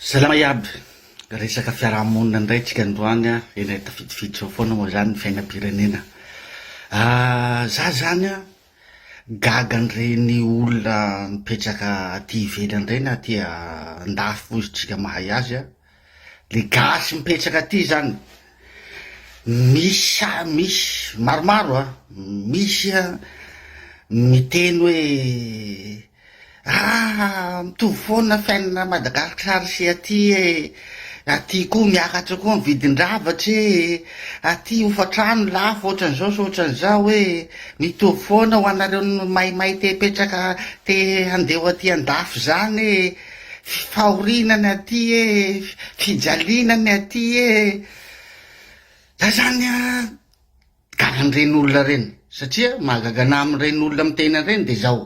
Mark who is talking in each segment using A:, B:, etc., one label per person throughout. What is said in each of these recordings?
A: Salama iaby! Resaka fiarahamonina indray tsika androany a, eny tafidifiditra eo foana moa zany ny fiainam-pirenena. Za zany a, gaga an'ireny olona mipetraka aty ivelany ireny aty andafy moa izy tsika mahay azy a, le gasy mipetraka aty zany, misy a, misy, maromaro a, misy a miteny hoe, Aah mitovy foana fiainana Madagascar sy aty e, aty koa miakatra koa ny vidin-dravatra e, aty hofantrano lafo otran'izao sy otran'izao e, mitovy foana ho anareo maimay te hipetraka te handeha ho aty andafy zany e, fahoriana ny aty e, fijaliana ny aty e, zay zany an. Gaga an'ireny olona ireny satria mahagaga anahy amin'ireny olona miteny an'ireny dia izao,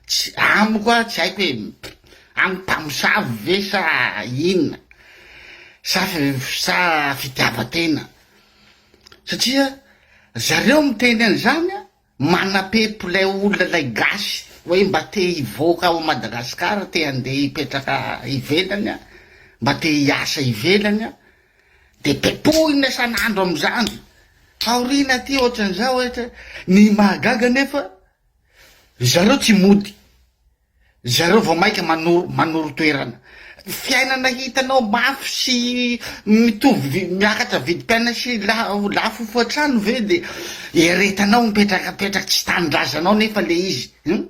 A: tsy amiko ah, tsy haiko hoe amiko mpamosavy ve sa inona sa sa fitiavan-tena satria zareo miteny an'izany an, manapepo ilay olona ilay gasy hoe mba te hivoaka ao Madagasikara, te handeha hipetraka ivelany an, mba te hiasa ivelany an. Dia dia tohina isan'andro amin'izany. Taoriana aty ohatran'izao hoe tsy ny mahagaga anefa ry zareo tsy mody. Ry zareo vao maika manoro manoro toerana. Ny fiainana hitanao mafy sy mitovy vi- miakatra vidim-piaina sy la- lafo hoatrano ve dia eretanao mipetraka mipetraka tsy tanindrazanao nefa ilay izy. Hum.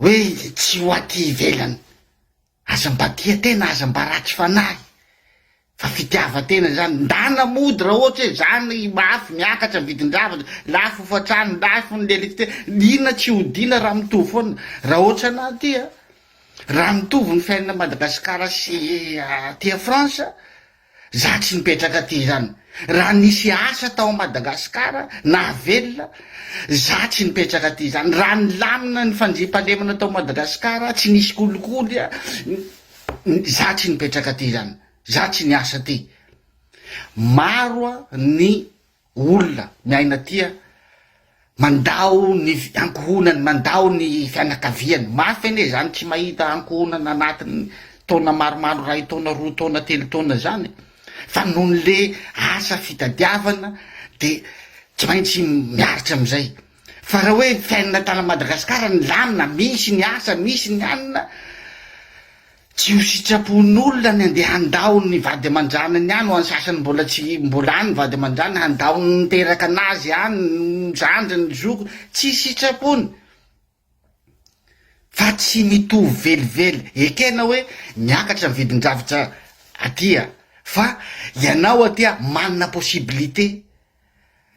A: Hoe izy tsy ho aty ivelany. Aza mba tia tena, aza mba ratsy fanahy fa fitiavan-tena izany. Ndana mody raha ohatra hoe izany mafy miakatra ny vidin-javatra, lafo hofan-trano, lafo ny lecte, inona tsy hodiana raha mitovy foana. Raha ohatra anah aty a, raha mitovy ny fiainana Madagasikara sy aty a France, Za tsy mipetraka aty izany. Raha nisy asa tao Madagascar nahavelona za tsy nipetraka aty izany. Raha nilamina ny fandriampahalemana tao Madagascar tsy nisy kolikoly za tsy nipetraka aty izany. Za tsy niasa aty. Maro ny. olona miaina tia mandao ny ankohonany mandao ny fianakaviany mafy anie zany tsy mahita ankohonana anatiny taona maromaro iray taona roa taona telo taona zany fa nohony le asa fitadiavana de tsy maintsy miaritra amizay fa raha hoe fiainana tana madagasikara ny lamina misy ny asa misy ny anina Tsy ho sitrapon'olona ny andeha handao ny vady aman-janany any, ho an'ny sasany mbola tsy mbola any ny vady aman-janany, handao ny niteraka an'azy any, ny zandriny, ny zokiny, tsy sitrapony fa tsy mitovy velively, ekena hoe miakatra ny vidin-javatra aty a! fa ianao aty a manana possibilité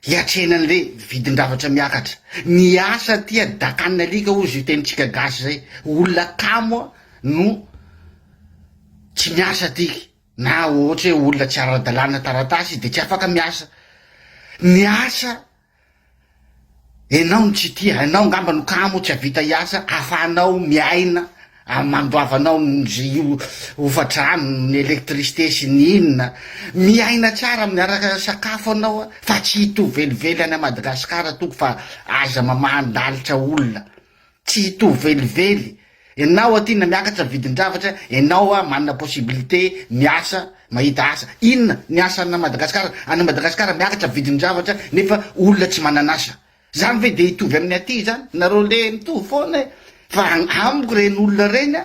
A: Hiatrehina anle vidin-dravatra miakatra. Ny asa aty dakan'ny alika hozy io tenintsika gasy zay. Olona kamo no tsy miasa aty na ohatra hoe olona tsy ara-dalàna taratasy de tsy afaka miasa. Ny asa. Enao no tsy tia, enao ngamba no kamo tsy avita hiasa afahanao miaina am mandoavanao nzy io hofatrano ny electricité sy ny inona, miaina tsara miaraka sakafo anao a fa tsy hitovy velively any Madagascar tompoko fa aza mamaha ndalitra olona Tsy hitovy velively enao aty na miakatra vidin-javatra enao a manana possibilité miasa mahita asa inona ny asa ana Madagascar any Madagascar miakatra vidin-javatra nefa olona tsy manan'asa zany ve dia hitovy amin'ny aty zany nareo le mitovy foana e fa amiko reny olona reny a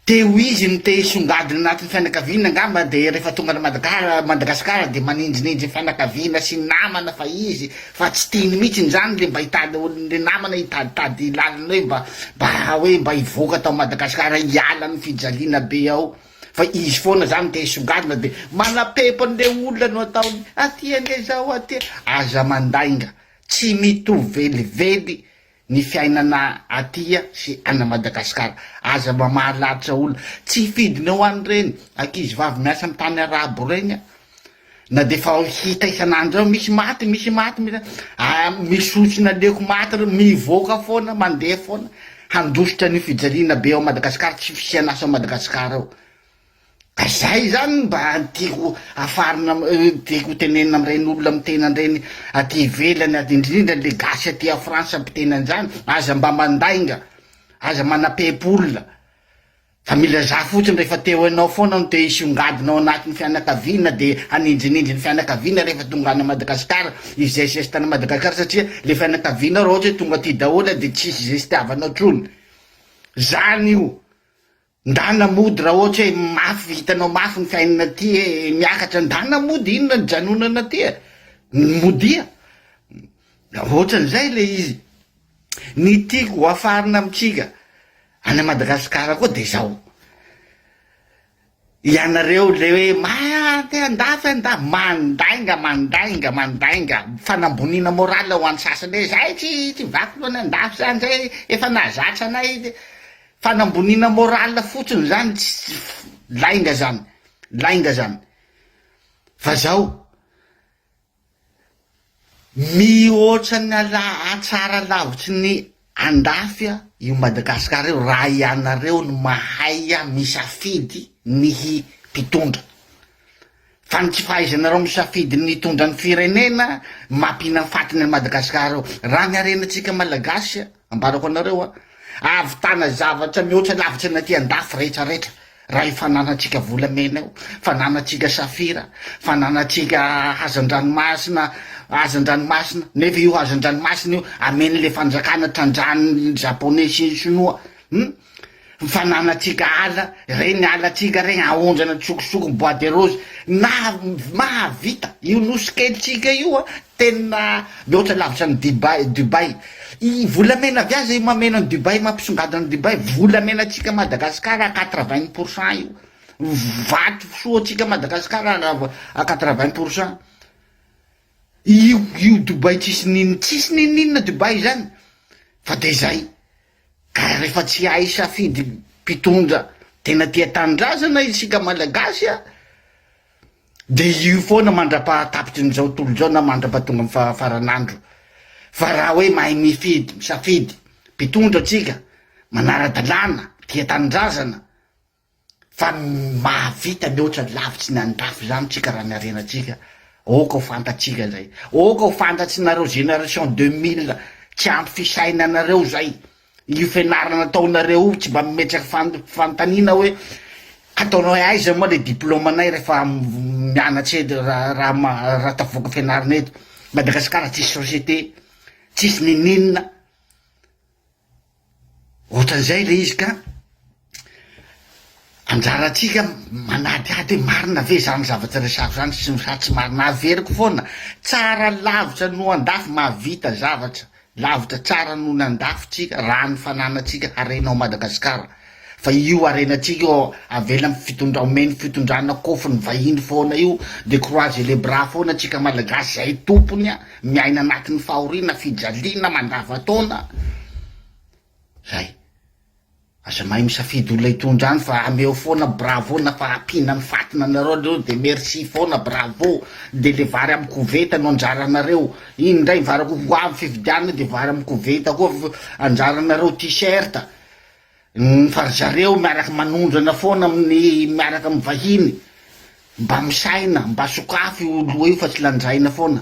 A: Te ho izy no te hisongadina anatin'ny fianakaviana angamba dia rehefa tonga any Madagara Madagasikara dia manindrinindry ny fianakaviana sy ny namana fa izy fa tsy tiany mihitsy izany le mba hitady olona le namana hitaditady lalana hoe mba mba hoe mba hivoaka tao Madagasikara hiala amin'ny fijaliana be ao fa izy foana izany te hisongadina dia manapepo an'ilay olona no ataony aty ange izao aty aza mandainga tsy mitovy velively ny fiainana atia sy ana Madagascar aza mamaha lalitra olona tsy hifidina eo any reny ankizy vavy miasa am tany arabo reny a na de efa hita isanandro eo misy maty misy maty misy a misy osy naleoko maty reo mivoaka foana mandeha foana handositra an'io fijaliana be ao Madagascar tsy fisian asa ao Madagascar ao. Ka zay zany no mba tiako hafarina tiako ho tenenina amin'ireny olona miteny an'ireny aty ivelany aty indrindra le gasy aty a France miteny an'izany aza mba mandainga aza manapepy olona fa milazà fotsiny rehefa te ho enao foana no te hisongadina ao anatin'ny fianakaviana de hanindrinindry ny fianakaviana rehefa tonga any Madagasikara izay zesta any Madagasikara satria le fianakavianao raha ohatra hoe tonga aty daholo de tsisy zestiavanao tsony zany io Ndana mody raha ohatra hoe mafy hitanao mafy ny fiainana aty e miakatra ndana mody inona ny janonana aty e modia ohatran'izay ilay izy ny tiako hoafarina amintsika any a Madagasikara koa dia izao ianareo ilay hoe maa te handafy anda mandainga mandainga mandainga fanamboniana morale ho an'ny sasany hoe izay tsy tsy vaky loha ny handafy izany izay efa nahazatra anay Fanamboniana morale fotsiny zany tsy lainga zany lainga zany fa zao mihoatra ny ala atsara lavitry ny andafy a io Madagascar io raha ianareo no mahay a misafidy ny hi pitondra Fa ny tsy fahaizanareo misafidy ny hitondra ny firenena mampihinam fatiny an'i Madagascar eo. Raha ny harenantsika Malagasy a, ambarako anareo a, ahavitana zavatra mihoatra lavitra ny aty an-dafy rehetra rehetra raha io fananantsika volamena io, fananantsika safira, fananantsika hazan-dranomasina, hazan-dranomasina, nefa io hazan-dranomasina io amen'le fanjakana trandrahan'ny Japonais sy ny Sinoa, hum. Ny fananantsika ala ireny alantsika ireny aondrana tsokosoko bois de rose na mahavita io nosy kelintsika io a tena mihoatra lavitra ny Dibay Dubaï i volamena avy aza io mameno an'i Dubaï mampisongadina an'i Dubaï volamenantsika Madagasikara à quatre vingt pour cent io vato fisohoantsika Madagasikara à quatre vingt pour cent io io Dubaï tsisy n'inona tsisy n'inon'inona Dubaï zany fa de zay. Ka refa tsy ahay hisafidy mpitondra tena tia tanindrazana isika malagasy a de io foana mandrapaha tapitry ny zao tontolo zao na mandrapaha tonga am faha faranandro fa raha hoe mahay mifidy misafidy mpitondra tsika manara dalàna tia tanindrazana Fa ny mahavita mihoatra lavitry ny andrafy zany tsika raha ny harenantsika, aoka ho fantatsika zay, aoka ho fantatsinareo génération deux mille tsy ampy fisainanareo zay, io fianarana ataonareo io tsy mba mimetraka fan- fanontaniana hoe ataonao hoe aiza moa le diplôme nay refa mianatra eto raha raha ma- raha tavoaka fianarana eto, Madagasikara tsisy société, tsisy nininona. Ohatran'izay ilay izy ka anjarantsika manadihady hoe marina ve izany zavatra resahako izany sy sa tsy marina, averiko foana, tsara lavitra noho andafy, mahavita zavatra lavitra tsara noho ny andafy tsika raha ny fananantsika harena ao Madagasikara. Fa io harenantsika io avela am fitondra omen fitondrana kofon vahiny foana io de croise les bras foana tsika malagasy zay tompony a miaina anatin fahoriana fijaliana mandrava taona zay aza mahay misafidy olona hitondra any fa ameo foana bravo na fa ampiana am fatina anareo reo de merci foana bravo de le vary am koveta no anjaranareo iny ndray vary ho avy fifidianana de vary am koveta koa anjaranareo t-shirt Ny fa ry zareo miaraka manondrana foana amin'ny miaraka amin'ny vahiny, mba misaina, mba sokafy io loha io fa tsy lanjaina foana.